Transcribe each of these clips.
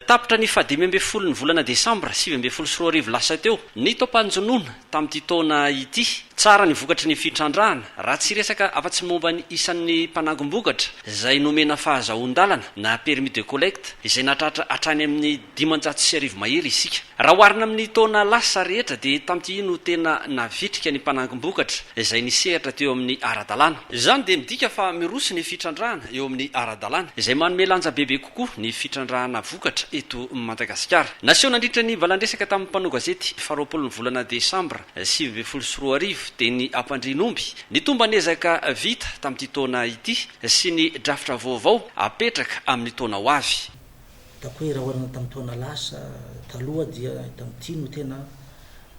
Tapitra ny fahadimy ambin'ny folo ny volana desambra sivy ambin'ny folo sy roa arivo lasa teo ny taom-panjonoana tamin'ity taona ity. Tsara ny vokatry ny fitrandrahana, raha tsy resaka afa-tsy ny momba ny isan'ny mpanangom-bokatra izay nomena fahazahoan-dalana na permis de collecte izay nahatratra hatrany amin'ny dimanjato sy arivo mahery isika. Raha oharina amin'ny taona lasa rehetra dia tamin'ity no tena navitrika ny mpanangom-bokatra izay nisehatra teo amin'ny ara-dalàna. Izany dia midika fa miroso ny fitrandrahana eo amin'ny ara-dalàna, izay manome lanja bebe kokoa. koa ny fitrandrahana vokatra eto Madagasikara. Naseho nandritra ny valandresaka tamin'ny mpanao gazety faharoapolo ny volana desambra sivy ambin'ny folo sy roa arivo dia ny hampandrian'omby ny tomban'ezaka vita tamin'ity taona ity sy ny drafitra vaovao hapetraka amin'ny taona ho avy. Ataoko hoe raha oharina tamin'ny taona lasa taloha dia tamin'ity no tena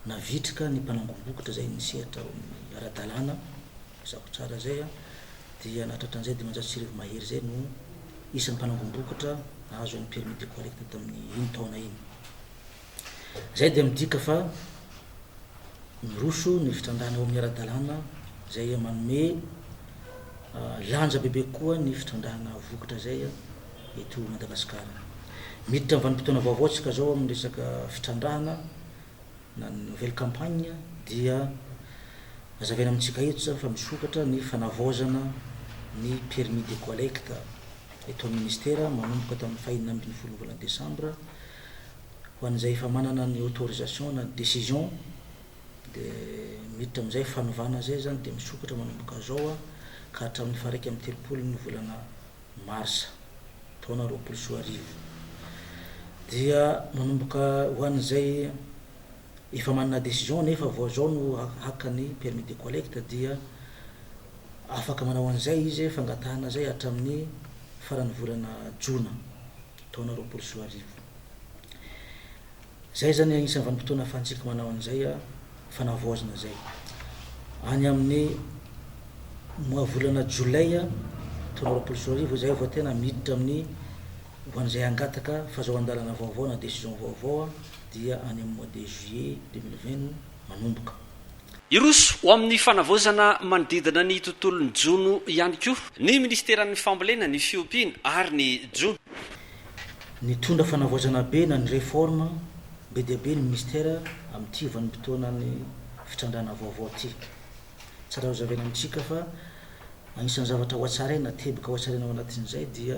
navitrika ny mpanangom-bokotra izay nisehatra ao amin'ny ara-dalàna Mazava tsara izay an! Dia na tratran'izay dimanjato sy arivo mahery izay no isan'ny mpanangom-bokatra nahazo an'ny permis de collecte tamin'iny taona iny. Izay dia midika fa miroso ny fitrandràna ao amin'ny ara-dalàna izay manome lanja bebe kokoa ny fitrandràna vokatra izay eto Madagasikara. Miditra amin'ny vanim-potoana vaovao isika izao amin'ny resaka fitrandràna. na ny nouvelle campagne dia hazavaina amintsika eto zany fa misokatra ny fanavaozana ny permis de collecte eto amin'ny ministera manomboka tamin'ny faha enina ambin'ny folon'ny volana desambra ho an'izay efa manana ny autorisation na ny decision de miditra amin'izay fanovana zay zany de misokatra manomboka zao ka hatramin'ny faha iraika amby telopolon'ny volana marsa taona roapolo sy roa arivo dia manomboka ho an'izay efa manana décision nefa vao zao no haka ny permis de collecte dia afaka manao an'izay izy fangatahana izay hatramin'ny faran'ny volana jona taona roapolo sy roa arivo. Zay izany anisany vanim-potoana afahantsika manao an'izay fanavaozana izay. Any amin'ny mois volana jolay telo amby roapolo sy roa arivo izay vao tena miditra amin'ny ho an'izay hangataka fazahoan-dalana vaovao na décision vaovao dia any amin'ny mois de juillet deux mille vingt no manomboka. Hiroso ho amin'ny fanavaozana manodidina ny tontolon'ny jono ihany koa ny minisiteran'ny fambolena, ny fiompiana ary ny jono. Nitondra fanavaozana be na ny réforme be dia be ny ministera amin'ity vanim-potoanan'ny fitrandrahana vaovao ity. Tsara hozavaina amintsika fa anisan'ny zavatra hohatsaraina, teboka hohatsaraina ao anatin'izay dia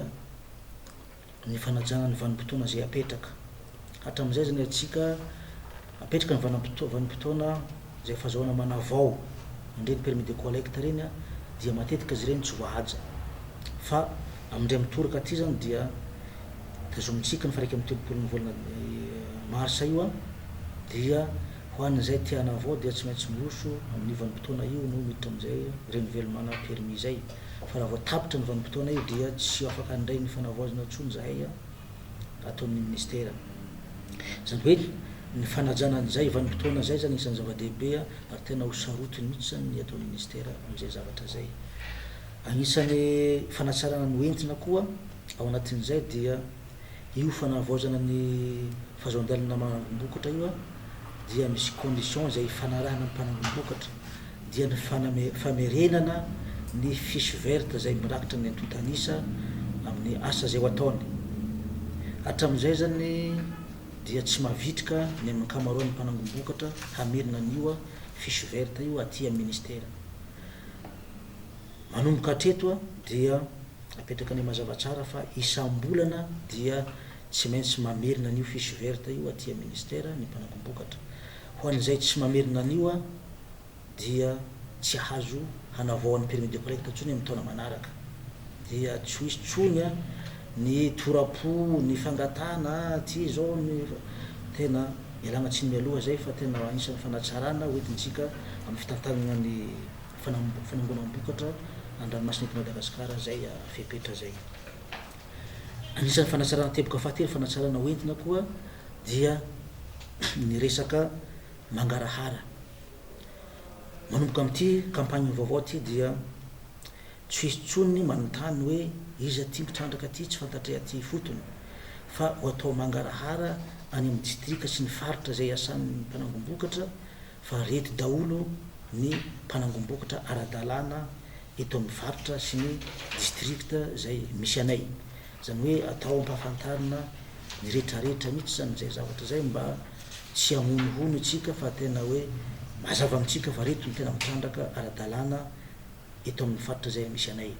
ny fanajana ny vanim-potoana izay apetraka. Hatramin'izay izany antsika Apetraka ny vanim-potoana izay efa azahoana manavao an'ireny permis de collecte ireny dia matetika izy ireny tsy voahaja. Fa amin'indray mitoraka aty izany dia tazomintsika ny faha iraika amby telopolon'ny volana marsa io dia ho an'izay te hanavao dia tsy maintsy miroso amin'io vanim-potoana io no miditra amin'izay renovellemana permis izay. Fa raha vao tapitra ny vanim-potoana io dia tsy afaka handray ny fanavaozana intsony izahay. ataon'ny Minisitera. Izany hoe ny fanajana an'izay vanim-potoana izay izany isan'ny zava-dehibe ary tena ho sarotiny mihitsy izany ny ataon'ny Minisitera amin'izay zavatra izay. Anisan'ny fanatsarana noentina koa ao anatin'izay dia io fanavaozana ny fahazoan-dalana manangom-bokatra io dia misy conditions izay ifanarahana amin'ny mpanangom-bokatra. dia ny famerenana ny fiche verte izay mirakitra ny antontan'isa amin'ny asa izay ho ataony. Hatramin'izay izany dia tsy mavitrika ny amin'ny ankamaroan'ny mpanangom-bokatra hamerina an'io fiche verte io aty amin'ny Ministera. Manomboka hatreto dia apetrakany mazava tsara fa isam-bolana dia tsy maintsy mamerina an'io fiche verte io aty amin'ny Ministera ny mpanangom-bokatra. Ho an'izay tsy mamerina an'io aho dia tsy hahazo hanavaoa ny permis de prête intsony amin'ny taona manaraka. Dia tsy ho hisy intsony ny tora-po, ny fangatahana aty izao ny fa tena ialana tsiny mialoha izay fa tena anisan'ny fanatsarana ho entintsika amin'ny fitantanana ny fanam-fanangonam-bokatra an-dranomasina eto Madagasikara izay fepetra izay. Anisan'ny fanatsarana teboka fahatelo fanatsarana ho entina koa dia ny resaka mangarahara. Manomboka amin'ity campagne vaovao ity dia tsy hisy intsony ny manontany hoe iza ity mpitrandraka ity tsy fantatray aty ifotony fa ho atao mangarahara any amin'ny distrika sy ny faritra izay iasan'ny mpanangom-bokatra fa reto daholo ny mpanangom-bokotra ara-dalàna eto amin'ny faritra sy ny district izay misy anay. Izany hoe atao ampahafantarina ny retraretra mihitsy izany izay zavatra izay mba tsy hamonohono isika fa tena hoe mazava amintsika fa reto ny tena mitrandraka ara-dalàna eto amin'ny faritra izay misy anay.